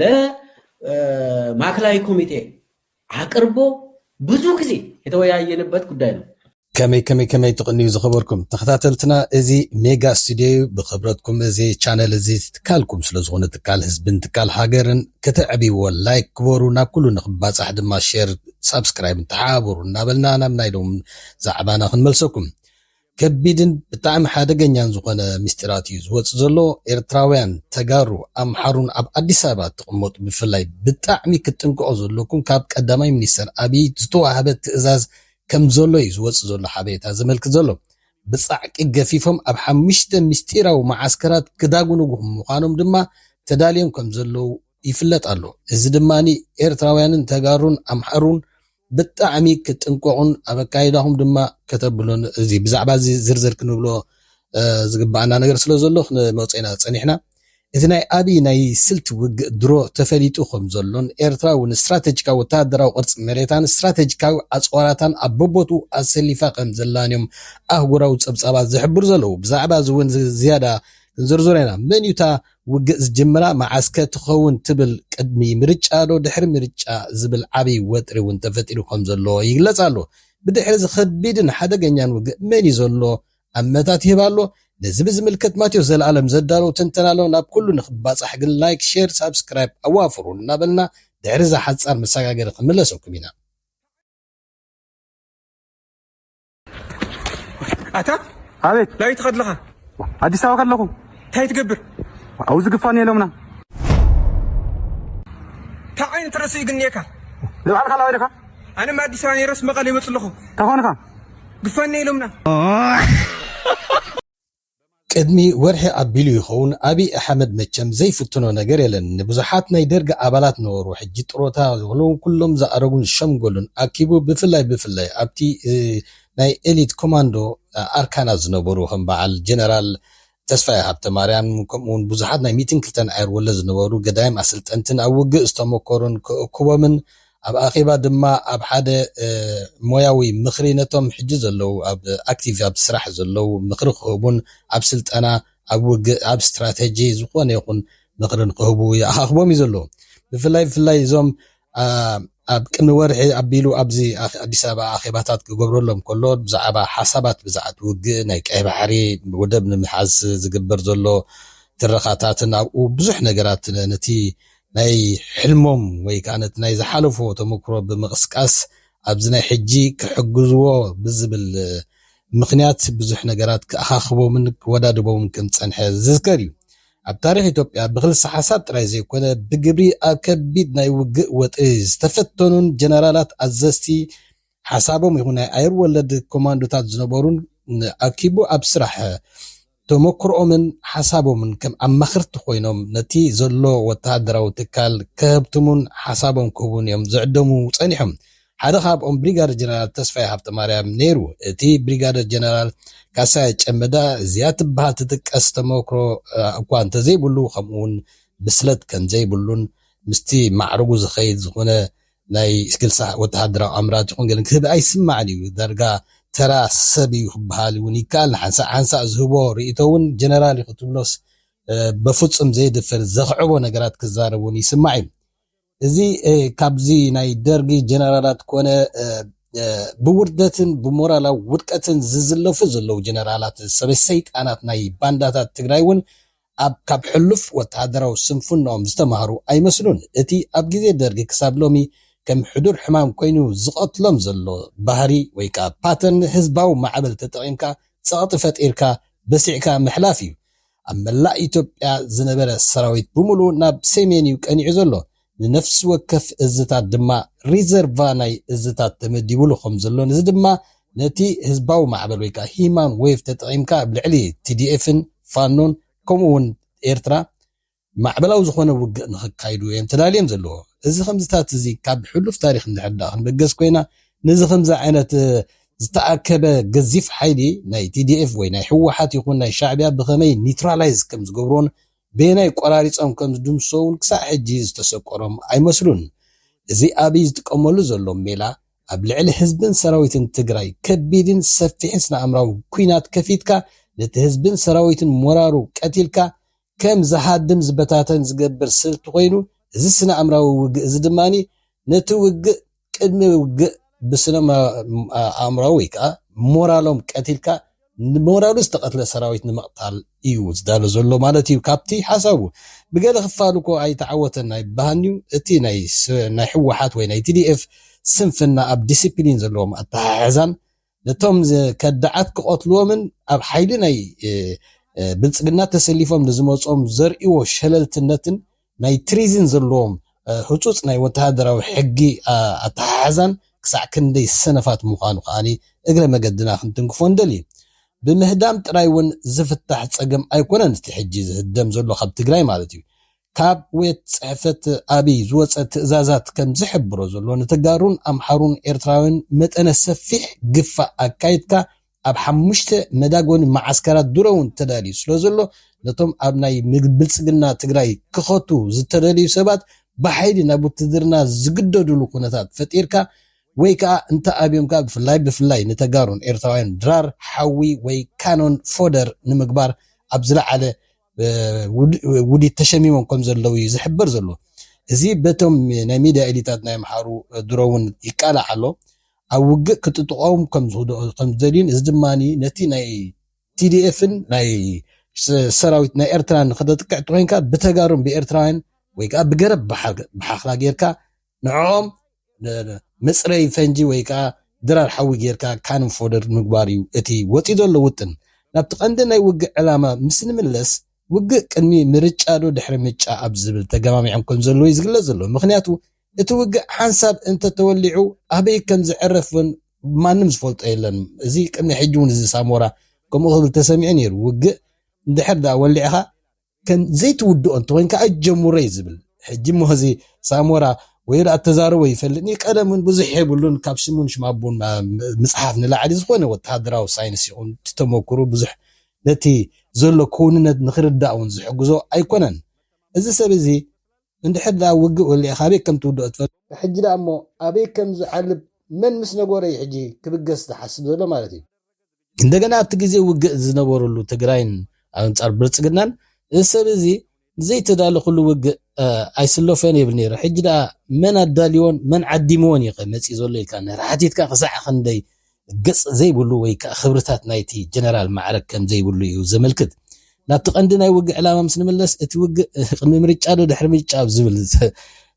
ለማእከላዊ ኮሚቴ ኣቅርቦ ብዙ ግዜ የተወያየንበት ጉዳይ ነው። ከመይ ከመይ ከመይ ትቕንዩ ዝኸበርኩም ተኸታተልትና እዚ ሜጋ ስቱድዮ እዩ ብኽብረትኩም እዚ ቻነል እዚ ትካልኩም ስለ ዝኾነ ትካል ህዝብን ትካል ሃገርን ከተዕብይዎ ላይክ ግበሩ ናብ ኩሉ ንክባፃሕ ድማ ሼር ሳብስክራይብ ተሓባበሩ እናበልና ናብ ናይ ሎም ዛዕባና ክንመልሰኩም ከቢድን ብጣዕሚ ሓደገኛን ዝኾነ ምስጢራት እዩ ዝወጽእ ዘሎ ኤርትራውያን ተጋሩ ኣምሓሩን ኣብ ኣዲስ ኣበባ ትቅመጡ ብፍላይ ብጣዕሚ ክትጥንቀቁ ዘለኩም ካብ ቀዳማይ ሚኒስተር ኣብይ ዝተዋህበ ትእዛዝ ከምዘሎ እዩ ዝወጽእ ዘሎ ሓበሬታ ዘመልክት ዘሎ ብጻዕቂ ገፊፎም ኣብ ሓሙሽተ ምስጢራዊ መዓስከራት ክዳጉንጉኹም ምዃኖም ድማ ተዳልዮም ከምዘለዉ ይፍለጥ ኣሎ እዚ ድማ ኤርትራውያንን ተጋሩን ኣምሓሩን ብጣዕሚ ክትጥንቀቑን ኣብ ኣካይዳኹም ድማ ከተብሉን እዚ ብዛዕባ እዚ ዝርዝር ክንብሎ ዝግባኣና ነገር ስለ ዘሎ ክንመጾ ኢና ጸኒሕና። እቲ ናይ ኣብይ ናይ ስልቲ ውግእ ድሮ ተፈሊጡ ከም ዘሎን ኤርትራ እውን ስትራተጂካዊ ወተሃደራዊ ቅርጺ መሬታን ስትራተጂካዊ ኣጽዋራታን ኣብ በቦትኡ ኣሰሊፋ ከም ዘላን እዮም ኣህጉራዊ ጸብጻባት ዝሕብሩ ዘለዉ። ብዛዕባ እዚ እውን ዝያዳ ክንዝርዝሮ ኢና። መን እዩ እታ ውግእ ዝጅምራ መዓስከ ትኸውን ትብል? ቅድሚ ምርጫዶ ድሕሪ ምርጫ ዝብል ዓቢ ወጥሪ እውን ተፈጢሩ ከምዘሎ ይግለጽ ኣሎ። ብድሕሪ እዚ ከቢድን ሓደገኛን ውግእ መን እዩ ዘሎ? ኣመታት ይህብ ኣሎ። ነዚ ብዝምልከት ማቴዎስ ዘልኣለም ዘዳለዎ ትንተና ኣሎ። ናብ ኩሉ ንክባጻሕ ግን ላይክ ሼር ሳብስክራይብ ኣዋፍሩ እናበልና ድሕሪ እዛ ሓጻር መሰጋገሪ ክንምለሰኩም ኢና። ኣታ ኣቤት ላበይ ትኸድ ኣለኻ? ኣዲስ ኣበባ ከለኹ እንታይ ትገብር? ኣብኡ ዝግፋኒ የሎምና እንታይ ዓይነት ርእሲ እዩ ግን እኒኤካ? ንባዕልኻ ላበይ ዲኻ? ኣነ እማ ኣዲስ ኣበባ ነይረስ መቐለ ይመፅእ ኣለኹ። እንታይ ኾንኻ? ግፋኒ የሎምና ቅድሚ ወርሒ ኣቢሉ ይኸውን ኣብይ ኣሕመድ መቸም ዘይፍትኖ ነገር የለን ንብዙሓት ናይ ደርግ ኣባላት ነበሩ ሕጂ ጥሮታ ዝኾኑ ኩሎም ዝኣረጉን ዝሸምገሉን ኣኪቡ ብፍላይ ብፍላይ ኣብቲ ናይ ኤሊት ኮማንዶ ኣርካናት ዝነበሩ ከም በዓል ጀነራል ተስፋይ ሃብተማርያም ከምኡ ውን ብዙሓት ናይ ሚእትን ክልተን ኣየር ወለድ ዝነበሩ ገዳይም ኣሰልጠንትን ኣብ ውግእ ዝተሞከሩን ክእክቦምን ኣብ ኣኼባ ድማ ኣብ ሓደ ሞያዊ ምኽሪ ነቶም ሕጂ ዘለዉ ኣብ ኣክቲቭ ኣብ ስራሕ ዘለዉ ምኽሪ ክህቡን ኣብ ስልጠና ኣብ ውግእ ኣብ ስትራተጂ ዝኾነ ይኹን ምኽሪ ንክህቡ ይኣኻኽቦም እዩ ዘሎ ብፍላይ ብፍላይ እዞም ኣብ ቅድሚ ወርሒ ኣቢሉ ኣብዚ ኣዲስ ኣበባ ኣኼባታት ክገብረሎም ከሎ ብዛዕባ ሓሳባት ብዛዕባ ውግእ ናይ ቀይ ባሕሪ ወደብ ንምሓዝ ዝግበር ዘሎ ትረኻታትን ኣብኡ ብዙሕ ነገራት ነቲ ናይ ሕልሞም ወይ ከኣ ነቲ ናይ ዝሓለፍዎ ተመክሮ ብምቕስቃስ ኣብዚ ናይ ሕጂ ክሕግዝዎ ብዝብል ምኽንያት ብዙሕ ነገራት ክኣኻኽቦምን ክወዳድቦምን ከም ዝጸንሐ ዝዝከር እዩ። ኣብ ታሪኽ ኢትዮጵያ ብክልሰ ሓሳብ ጥራይ ዘይኮነ ብግብሪ ኣብ ከቢድ ናይ ውግእ ወጥሪ ዝተፈተኑን ጀነራላት ኣዘዝቲ ሓሳቦም ይኹን ናይ ኣየር ወለድ ኮማንዶታት ዝነበሩን ኣኪቡ ኣብ ስራሕ ተሞክሮኦምን ሓሳቦምን ከም ኣማኽርቲ ኮይኖም ነቲ ዘሎ ወተሃደራዊ ትካል ከሀብትሙን ሓሳቦም ክህቡን እዮም ዝዕደሙ ጸኒሖም። ሓደ ካብኦም ብሪጋደር ጀነራል ተስፋይ ሃብተማርያም ነይሩ። እቲ ብሪጋደር ጀነራል ካሳይ ጨመዳ እዚኣ ትበሃል ትጥቀስ ተሞክሮ እኳ እንተዘይብሉ ከምኡውን ብስለት ከምዘይብሉን ምስቲ ማዕርጉ ዝኸይድ ዝኾነ ናይ ክልሳ ወተሃደራዊ ኣምራት ይኹን ገለ ክህብ ኣይስማዕን እዩ። ዳርጋ ተራ ሰብ እዩ ክበሃል እውን ይከኣል። ንሓንሳእ ሓንሳእ ዝህቦ ርእይቶ እውን ጀነራል እዩ ክትብሎስ በፍጹም ዘየድፍር ዘኽዕቦ ነገራት ክዛረብ እውን ይስማዕ እዩ። እዚ ካብዚ ናይ ደርጊ ጀነራላት ኮነ ብውርደትን ብሞራላዊ ውድቀትን ዝዝለፉ ዘለዉ ጀነራላት ሰበ ሰይጣናት ናይ ባንዳታት ትግራይ እውን ኣብ ካብ ሕሉፍ ወተሃደራዊ ስንፍንኦም ዝተማህሩ ኣይመስሉን። እቲ ኣብ ግዜ ደርጊ ክሳብ ሎሚ ከም ሕዱር ሕማም ኮይኑ ዝቐትሎም ዘሎ ባህሪ ወይ ከኣ ፓተርን ህዝባዊ ማዕበል ተጠቒምካ ጸቕጢ ፈጢርካ በሲዕካ ምሕላፍ እዩ። ኣብ መላእ ኢትዮጵያ ዝነበረ ሰራዊት ብምሉኡ ናብ ሴሜን እዩ ቀኒዑ ዘሎ። ንነፍሲ ወከፍ እዝታት ድማ ሪዘርቫ ናይ እዝታት ተመዲቡሉ ከም ዘሎን እዚ ድማ ነቲ ህዝባዊ ማዕበል ወይ ከኣ ሂማን ዌቭ ተጠቒምካ ኣብ ልዕሊ ቲዲኤፍን ፋኖን ከምኡ ውን ኤርትራ ማዕበላዊ ዝኾነ ውግእ ንኽካይዱ እዮም ተዳልዮም ዘለዎ እዚ ከምዚታት እዚ ካብ ሕሉፍ ታሪኽ እንድሕር ደኣ ክንበገስ ኮይና ነዚ ከምዚ ዓይነት ዝተኣከበ ገዚፍ ሓይሊ ናይ ቲዲኤፍ ወይ ናይ ህወሓት ይኹን ናይ ሻዕቢያ ብኸመይ ኒትራላይዝ ከም ዝገብሮን በየናይ ቆራሪጾም ከም ዝድምስሶ'ውን ክሳዕ ሕጂ ዝተሰቆሮም ኣይመስሉን። እዚ ኣብይ ዝጥቀመሉ ዘሎ ሜላ ኣብ ልዕሊ ህዝብን ሰራዊትን ትግራይ ከቢድን ሰፊሕን ስነኣእምራዊ ኩናት ከፊትካ ነቲ ህዝብን ሰራዊትን ሞራሩ ቀቲልካ ከም ዝሃድም ዝበታተን ዝገብር ስልቲ ኮይኑ እዚ ስነኣእምራዊ ውግእ'ዚ ድማ ነቲ ውግእ ቅድሚ ውግእ ብስነ ኣእምራዊ ወይ ከኣ ሞራሎም ቀቲልካ ንሞራሉ ዝተቐትለ ሰራዊት ንምቕታል እዩ ዝዳሎ ዘሎ ማለት እዩ ካብቲ ሓሳቡ። ብገለ ክፋሉ እኮ ኣይተዓወተን ኣይበሃንዩ እቲ ናይ ህወሓት ወይ ናይ tdf ስንፍና ኣብ ዲሲፕሊን ዘለዎም ኣተሓሕዛን ነቶም ከዳዓት ክቐትልዎምን ኣብ ሓይሊ ናይ ብልፅግና ተሰሊፎም ንዝመፅኦም ዘርእዎ ሸለልትነትን ናይ ትሪዝን ዘለዎም ህፁፅ ናይ ወተሃደራዊ ሕጊ ኣተሓሕዛን ክሳዕ ክንደይ ሰነፋት ምዃኑ ከኣ እግረ መገድና ክንትንክፎ ንደሊ። ብምህዳም ጥራይ እውን ዝፍታሕ ፀገም ኣይኮነን እቲ ሕጂ ዝህደም ዘሎ ካብ ትግራይ ማለት እዩ። ካብ ዌት ጽሕፈት ኣብይ ዝወጸ ትእዛዛት ከም ዝሕብሮ ዘሎ ንተጋሩን ኣምሓሩን ኤርትራውያን መጠነ ሰፊሕ ግፋ ኣካይድካ ኣብ ሓሙሽተ መዳጎኒ መዓስከራት ድሮውን ተዳልዩ ስለ ዘሎ ነቶም ኣብ ናይ ብልጽግና ትግራይ ክኸቱ ዝተደልዩ ሰባት ብሓይሊ ናብ ውትድርና ዝግደዱሉ ኩነታት ፈጢርካ ወይ ከኣ እንተ ኣብዮምካ ብፍላይ ብፍላይ ንተጋሩን ኤርትራውያን ድራር ሓዊ ወይ ካኖን ፎደር ንምግባር ኣብ ዝለዓለ ውዲት ተሸሚሞም ከም ዘለዉ እዩ ዝሕበር ዘሎ እዚ በቶም ናይ ሚድያ ኤሊታት ናይ ኣምሓሩ ድሮ እውን ይቃላዕ ኣሎ ኣብ ውግእ ክጥጥቆም ከም ዝኽድኦ ከም ዝደልዩን እዚ ድማ ነቲ ናይ ቲዲኤፍን ናይ ሰራዊት ናይ ኤርትራን ከተጥቅዕ እንተኮይንካ ብተጋሩን ብኤርትራውያን ወይ ከዓ ብገረብ ብሓኽላ ጌርካ ንዕኦም መጽረዪ ፈንጂ ወይ ከኣ ድራር ሓዊ ጌርካ ካንን ፎደር ምግባር እዩ እቲ ወጺኡ ዘሎ ውጥን። ናብቲ ቀንዲ ናይ ውግእ ዕላማ ምስ ንምለስ፣ ውግእ ቅድሚ ምርጫዶ ድሕሪ ምጫ ኣብ ዝብል ተገማሚዖም ከም ዘለዉ እዩ ዝግለጽ ዘሎ። ምኽንያቱ እቲ ውግእ ሓንሳብ እንተ ተወሊዑ ኣበይ ከም ዝዕረፍ ውን ማንም ዝፈልጦ የለን። እዚ ቅድሚ ሕጂ ውን እዚ ሳሞራ ከምኡ ክብል ተሰሚዑ ነይሩ። ውግእ እንድሕር ደኣ ወሊዕካ ከም ዘይትውድኦ እንተኮይንካ ኣይትጀምሮ እዩ ዝብል ሕጂ እሞ እዚ ሳሞራ ወይ ደኣ ተዛረቦ ይፈልጥኒ ቀደም እውን ብዙሕ የብሉን ካብ ሽሙን ሽም ኣቦን ምጽሓፍ ንላዕሊ ዝኾነ ወተሃደራዊ ሳይንስ ይኹን እቲ ተመክሩ ብዙሕ ነቲ ዘሎ ክውንነት ንክርዳእ እውን ዝሕግዞ ኣይኮነን እዚ ሰብ እዚ እንድሕር ደኣ ውግእ ወሊዕካ ኣበይ ከም ትውድኦ ትፈልጥ ሕጂ ደኣ እሞ ኣበይ ከም ዝዓልብ መን ምስ ነገሮ እዩ ሕጂ ክብገስ ዝሓስብ ዘሎ ማለት እዩ። እንደገና ኣብቲ ግዜ ውግእ ዝነበረሉ ትግራይን ኣንጻር ብልጽግናን እዚ ሰብ እዚ ዘይተዳለኹሉ ውግእ ኣይስለፎን ይብል ነይሩ ሕጂ ደኣ መን ኣዳልዎን መን ዓዲምዎን እዩ መጺእ ዘሎ ኢልካ ነራ ሓቲትካ ክሳዕ ክንደይ ገጽ ዘይብሉ ወይ ከዓ ክብርታት ናይቲ ጀነራል ማዕረግ ከም ዘይብሉ እዩ ዘመልክት ናብቲ ቀንዲ ናይ ውግእ ዕላማ ምስ ንምለስ እቲ ውግእ ቅድሚ ምርጫ ዶ ድሕሪ ምርጫ ዝብል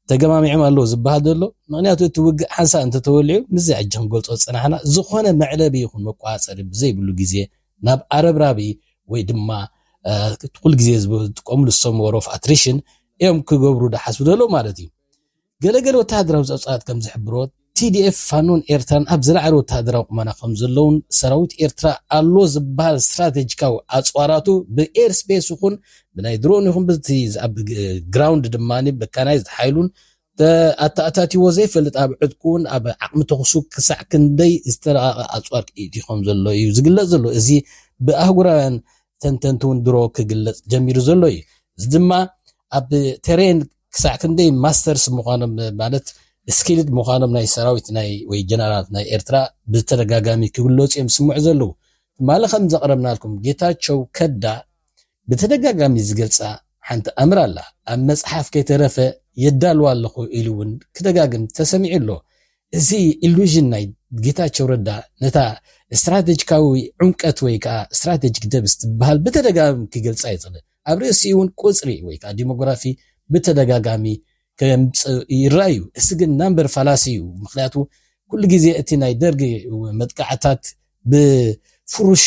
ተገማሚዖም ኣለዉ ዝበሃል ዘሎ ምክንያቱ እቲ ውግእ ሓንሳእ እንተተወሊዑ ምስዚ ሕጂ ክንገልጾ ዝጸናሕና ዝኾነ መዕለቢ ይኹን መቋጸሪ ብዘይብሉ ግዜ ናብ ኣረብራቢ ወይ ድማ ኩሉ ግዜ ዝጥቀምሉ ዝሰሙ ወሮፍ ኣትሪሽን እዮም ክገብሩ ዳሓስቡ ዘለዉ ማለት እዩ ገለገለ ወተሃደራዊ ጸብጻባት ከም ዝሕብሮት ቲዲኤፍ፣ ፋኖን ኤርትራን ኣብ ዝለዓለ ወተሃደራዊ ቁመና ከምዘለዉን ሰራዊት ኤርትራ ኣሎ ዝበሃል ስትራቴጂካዊ ኣጽዋራቱ ብኤር ስፔስ ይኹን ብናይ ድሮን ይኹን ብቲ ኣብ ግራውንድ ድማ መካናይዝድ ሓይሉን ኣተኣታቲዎ ዘይፈልጥ ኣብ ዕጥቁን ኣብ ዓቕሚ ተኹሱ ክሳዕ ክንደይ ዝተረቐቐ ኣጽዋር ክኢቲ ከምዘሎ እዩ ዝግለጽ ዘሎ እዚ ብኣህጉራውያን ተንተንቲ እውን ድሮ ክግለጽ ጀሚሩ ዘሎ እዩ እዚ ድማ ኣብ ቴሬን ክሳዕ ክንደይ ማስተርስ ምዃኖም ማለት ስኪልድ ምዃኖም ናይ ሰራዊት ናይ ወይ ጀነራላት ናይ ኤርትራ ብተደጋጋሚ ክግለጹ እዮም ዝስምዑ ዘለዉ። ትማሊ ከም ዘቕረብናልኩም ጌታቸው ከዳ ብተደጋጋሚ ዝገልጻ ሓንቲ ኣምር ኣላ። ኣብ መጽሓፍ ከይተረፈ የዳልዋ ኣለኹ ኢሉ እውን ክደጋግም ተሰሚዑ ኣሎ። እዚ ኢሉዥን ናይ ጌታቸው ረዳ ነታ ስትራቴጂካዊ ዑምቀት ወይ ከዓ ስትራቴጂክ ደብስ ትበሃል ብተደጋጋሚ ክገልጻ ይጽለ ኣብ ርእሲኡውን ቁጽሪ ወይ ከኣ ዲሞግራፊ ብተደጋጋሚ ከምጽ ይረኣ እዩ። እዚ ግን ናምበር ፋላሲ እዩ። ምክንያቱ ኩሉ ግዜ እቲ ናይ ደርጊ መጥቃዕታት ብፍሩሽ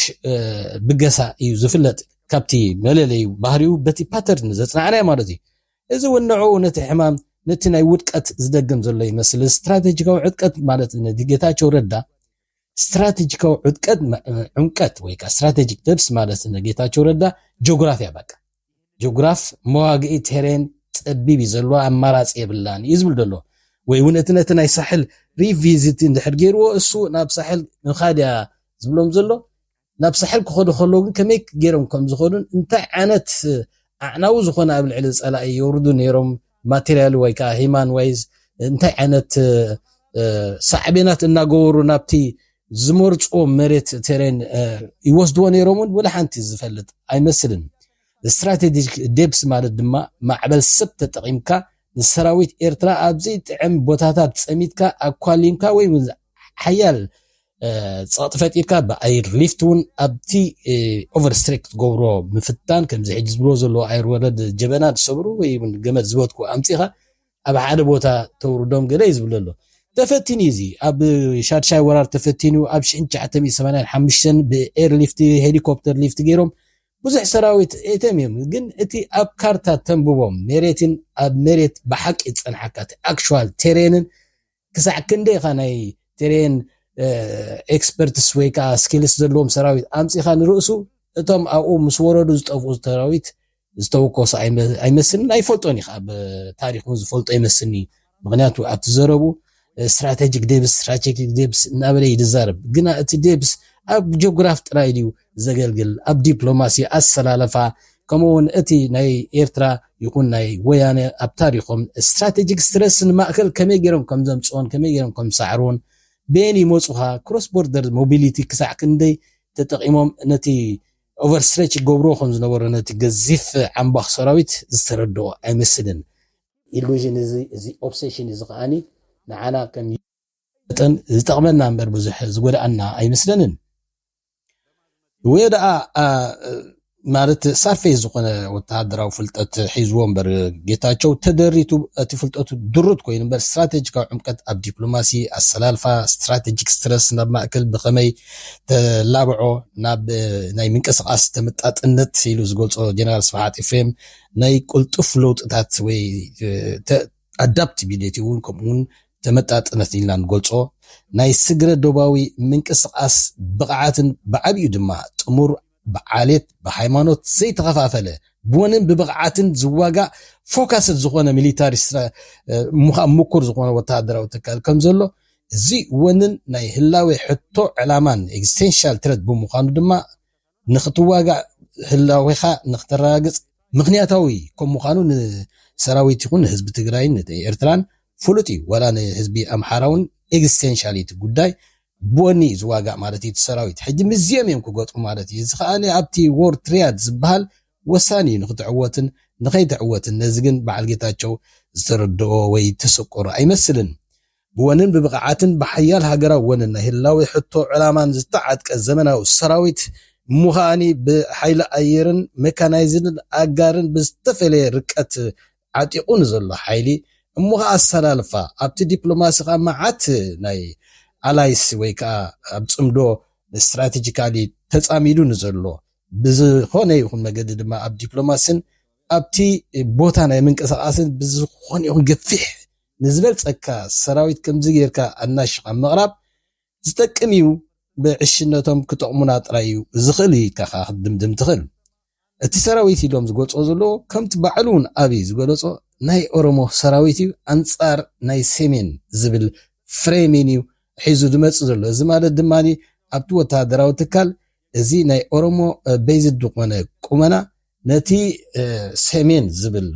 ብገሳ እዩ ዝፍለጥ። ካብቲ መለለዩ ባህሪኡ በቲ ፓተርን ዘጽናዕናዮ ማለት እዩ። እዚ እውን ንዕኡ ነቲ ሕማም ነቲ ናይ ውድቀት ዝደግም ዘሎ ይመስል። እዚ ስትራተጂካዊ ዕጥቀት ማለት ነቲ ጌታቸው ረዳ ስትራተጂካዊ ዑድቀት ዑምቀት ወይ ከዓ ስትራተጂክ ደብስ ማለት ንጌታቸው ረዳ ጆግራፍ እያ በቃ ጆግራፍ መዋግኢ ቴሬን ፀቢብ እዩ ዘለዎ ኣማራፂ የብላን እዩ ዝብል ዘሎ ወይ እውን እቲ ነቲ ናይ ሳሕል ሪቪዚት እንድሕር ገይርዎ እሱ ናብ ሳሕል ምኻድ እያ ዝብሎም ዘሎ ናብ ሳሕል ክኸዱ ከለዉ ግን ከመይ ገይሮም ከም ዝኸዱን እንታይ ዓይነት ኣዕናዊ ዝኾነ ኣብ ልዕሊ ጸላኢ የውርዱ ነይሮም ማቴሪያል ወይ ከዓ ሂማን ዋይዝ እንታይ ዓይነት ሳዕቤናት እናገበሩ ናብቲ ዝመርፅዎ መሬት ቴሬን ይወስድዎ ነይሮም እውን ወላ ሓንቲ ዝፈልጥ ኣይመስልን ስትራቴጂክ ዴፕስ ማለት ድማ ማዕበል ሰብ ተጠቒምካ ንሰራዊት ኤርትራ ኣብዘይ ጥዕም ቦታታት ፀሚትካ ኣኳሊምካ ወይ ሓያል ጸቕጢ ፈጢርካ ብኣየር ሊፍት እውን ኣብቲ ኦቨርስትሬክ ክትገብሮ ምፍታን ከምዚ ሕጂ ዝብሎ ዘለዎ ኣየር ወረድ ጀበና ዝሰብሩ ወይ እውን ገመድ ዝበትኩ ኣምፂኻ ኣብ ሓደ ቦታ ተውርዶም ገለ እዩ ዝብሎ ኣሎ ተፈቲኑ እዩ እዚ ኣብ ሻድሻይ ወራር ተፈቲኑ ኣብ 1985 ብኤር ሊፍት ሄሊኮፕተር ሊፍት ገይሮም ብዙሕ ሰራዊት ኤተም እዮም ግን እቲ ኣብ ካርታ ተንብቦም ሜሬትን ኣብ ሜሬት ብሓቂ ዝፀንሓካ ኣክል ቴሬንን ክሳዕ ክንደይ ኢኻ ናይ ትሬን ኤክስፐርትስ ወይ ከዓ ስኪልስ ዘለዎም ሰራዊት ኣምፂኻ ንርእሱ እቶም ኣብኡ ምስ ወረዱ ዝጠፍኡ ሰራዊት ዝተወከሱ ኣይመስልን ኣይፈልጦን እዩ ከዓ ብታሪክ እውን ዝፈልጦ ይመስልኒ ምክንያቱ ኣብቲ ዘረቡ ስትራቴጂክ ዴብስ ስትራቴጂክ ዴብስ እናበለ ይዛረብ ግና እቲ ዴብስ ኣብ ጂኦግራፍ ጥራይ ድዩ ዘገልግል ኣብ ዲፕሎማሲ ኣሰላልፋ ከምኡ ውን እቲ ናይ ኤርትራ ይኹን ናይ ወያነ ኣብ ታሪኾም ስትራተጂክ ስትረስ ንማእከል ከመይ ጌሮም ከም ዘምጽኦን ከመይ ጌሮም ከም ዝሰዕርዎን በየን ይመጹኻ ክሮስ ቦርደር ሞቢሊቲ ክሳዕ ክንደይ ተጠቒሞም ነቲ ኦቨርስትሬች ይገብርዎ ከም ዝነበሩ ነቲ ገዚፍ ዓምባኽ ሰራዊት ዝተረድኦ ኣይመስልን። ኢሉዥን እዚ እዚ ኦብሴሽን እዚ ከኣኒ ንዓና ከም መጠን ዝጠቕመና እምበር ብዙሕ ዝጎድኣና ኣይመስለንን። ወይ ደኣ ማለት ሳርፌስ ዝኾነ ወተሃደራዊ ፍልጠት ሒዝዎ እምበር ጌታቸው ተደሪቱ እቲ ፍልጠቱ ድሩት ኮይኑ እምበር ስትራቴጂካዊ ዕምቀት ኣብ ዲፕሎማሲ ኣሰላልፋ ስትራቴጂክ ስትረስ ናብ ማእከል ብኸመይ ተላብዖ ናብ ናይ ምንቅስቓስ ተመጣጥነት ኢሉ ዝገልጾ ጀነራል ስብሓት ኤፍሬም ናይ ቅልጡፍ ለውጥታት ወይ ኣዳፕቲቢሊቲ እውን ከምኡ እውን ተመጣጥነት ኢልና ንገልፆ ናይ ስግረ ዶባዊ ምንቅስቓስ ብቕዓትን ብዓብዩ ድማ ጥሙር ብዓሌት ብሃይማኖት ዘይተኸፋፈለ ብወንን ብብቕዓትን ዝዋጋእ ፎካስድ ዝኾነ ሚሊታሪ ምዃን ምኩር ዝኾነ ወተሃደራዊ ትካል ከም ዘሎ እዚ ወንን ናይ ህላዌ ሕቶ ዕላማን ኤግዚስቴንሻል ትረት ብምዃኑ ድማ ንክትዋጋእ ህላዌኻ ንክተረጋግፅ ምኽንያታዊ ከም ምዃኑ ንሰራዊት ይኹን ንህዝቢ ትግራይን ንኤርትራን ፍሉጥ እዩ። ዋላ ንህዝቢ ኣምሓራ እውን ኤግዝቴንሻል እዩ እቲ ጉዳይ። ብወኒ እዩ ዝዋጋእ ማለት እዩ እቲ ሰራዊት። ሕጂ ምስዚኦም እዮም ክገጥሙ ማለት እዩ። እዚ ከኣ ኣብቲ ዎር ትሪያድ ዝበሃል ወሳኒ እዩ ንክትዕወትን ንከይትዕወትን። ነዚ ግን በዓል ጌታቸው ዝተረድኦ ወይ ተሰቆሮ ኣይመስልን። ብወንን ብብቕዓትን ብሓያል ሃገራዊ ወንን ናይ ህላዌ ሕቶ ዕላማን ዝተዓጥቀ ዘመናዊ ሰራዊት እሞ ከኣ ብሓይሊ ኣየርን መካናይዝድን ኣጋርን ብዝተፈለየ ርቀት ዓጢቑ ንዘሎ ሓይሊ እሞ ከኣ ኣሰላልፋ ኣብቲ ዲፕሎማሲ ከኣ መዓት ናይ ኣላይስ ወይ ከኣ ኣብ ጽምዶ ስትራቴጂካሊ ተጻሚዱ ንዘሎ ብዝኾነ ይኹን መገዲ ድማ ኣብ ዲፕሎማሲን ኣብቲ ቦታ ናይ ምንቅስቓስን ብዝኾነ ይኹን ገፊሕ ንዝበልጸካ ሰራዊት ከምዚ ጌርካ ኣናሺኻ ምቕራብ ዝጠቅም ኢዩ ብዕሽነቶም ክጠቕሙና ጥራይ ኢዩ ዝኽእል ኢልካ ከኣ ክትድምድም ትኽእል እቲ ሰራዊት ኢሎም ዝገልጽዎ ዘለዎ ከምቲ ባዕሉ ውን ኣብይ ዝገለጾ ናይ ኦሮሞ ሰራዊት ኢዩ ኣንጻር ናይ ሰሜን ዝብል ፍሬሚን ኢዩ ሒዙ ዝመጽእ ዘሎ እዚ ማለት ድማ ኣብቲ ወተሃደራዊ ትካል እዚ ናይ ኦሮሞ ቤዝድ ዝኾነ ቁመና ነቲ ሰሜን ዝብል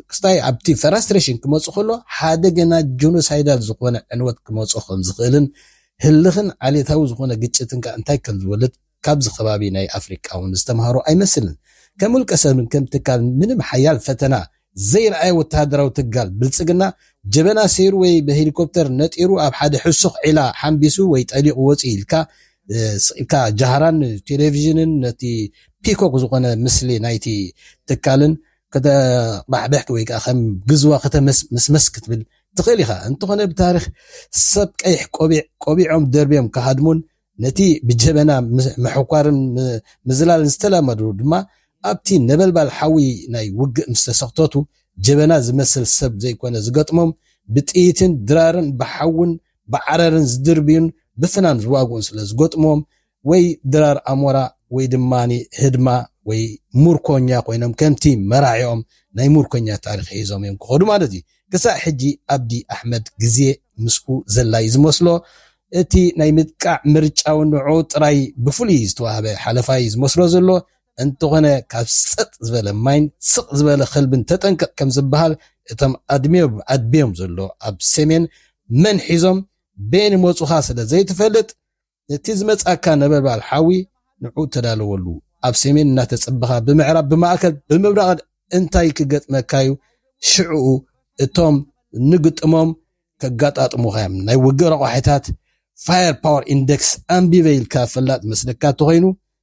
ክስታይ ኣብቲ ፈራስትሬሽን ክመፁ ከሎ ሓደ ገና ጆኖሳይዳል ዝኾነ ዕንወት ክመፆ ከም ዝኽእልን ህልኽን ዓሌታዊ ዝኾነ ግጭትን ከ እንታይ ከም ዝወልድ ካብዚ ከባቢ ናይ ኣፍሪቃ እውን ዝተምሃሩ ኣይመስልን ከም ውልቀ ሰብን ከም ትካል ምንም ሓያል ፈተና ዘይርኣየ ወተሃደራዊ ትካል ብልጽግና፣ ጀበና ሰይሩ ወይ ብሄሊኮፕተር ነጢሩ ኣብ ሓደ ሕሱኽ ዒላ ሓምቢሱ ወይ ጠሊቑ ወጺኡ ኢልካ ስቒልካ ጃህራን ቴሌቪዥንን ነቲ ፒኮክ ዝኾነ ምስሊ ናይቲ ትካልን ከተቕባሕብሕ ወይ ከኣ ከም ግዝዋ ከተመስመስ ክትብል ትኽእል ኢኻ። እንተኾነ ብታሪኽ ሰብ ቀይሕ ቆቢዕ ቆቢዖም ደርብዮም ክሃድሙን ነቲ ብጀበና ምሕኳርን ምዝላልን ዝተላመዱ ድማ ኣብቲ ነበልባል ሓዊ ናይ ውግእ ምስ ተሰኽተቱ ጀበና ዝመስል ሰብ ዘይኮነ ዝገጥሞም ብጥይትን ድራርን ብሓውን ብዓረርን ዝድርብዩን ብፍናን ዝዋግኡን ስለ ዝገጥሙዎም ወይ ድራር ኣሞራ ወይ ድማ ህድማ ወይ ሙርኮኛ ኮይኖም ከምቲ መራሒኦም ናይ ሙርኮኛ ታሪኽ ሒዞም እዮም ክኸዱ ማለት እዩ። ክሳዕ ሕጂ ኣብዲ ኣሕመድ ግዜ ምስኡ ዘላ እዩ ዝመስሎ። እቲ ናይ ምጥቃዕ ምርጫ'ውን ንዕኡ ጥራይ ብፍሉይ ዝተዋህበ ሓለፋ እዩ ዝመስሎ ዘሎ። እንተኾነ ካብ ሰጥ ዝበለ ማይን ስቕ ዝበለ ከልብን ተጠንቀቕ ከም ዝበሃል፣ እቶም ኣድሚዮም ኣድብዮም ዘሎ ኣብ ሰሜን መን ሒዞም በየን ይመጹኻ ስለ ዘይትፈልጥ፣ ነቲ ዝመጽኣካ ነበልባል ሓዊ ንዕኡ ተዳለወሉ። ኣብ ሰሜን እናተጸበኻ ብምዕራብ ብማእከል ብምብራቕን እንታይ ክገጥመካዩ ሽዕኡ እቶም ንግጥሞም ከጋጣጥሙኻዮም ናይ ውግእ ረቋሒታት Fire Power Index ኣንቢበ ኢልካ ፈላጥ መስለካ ተኾይኑ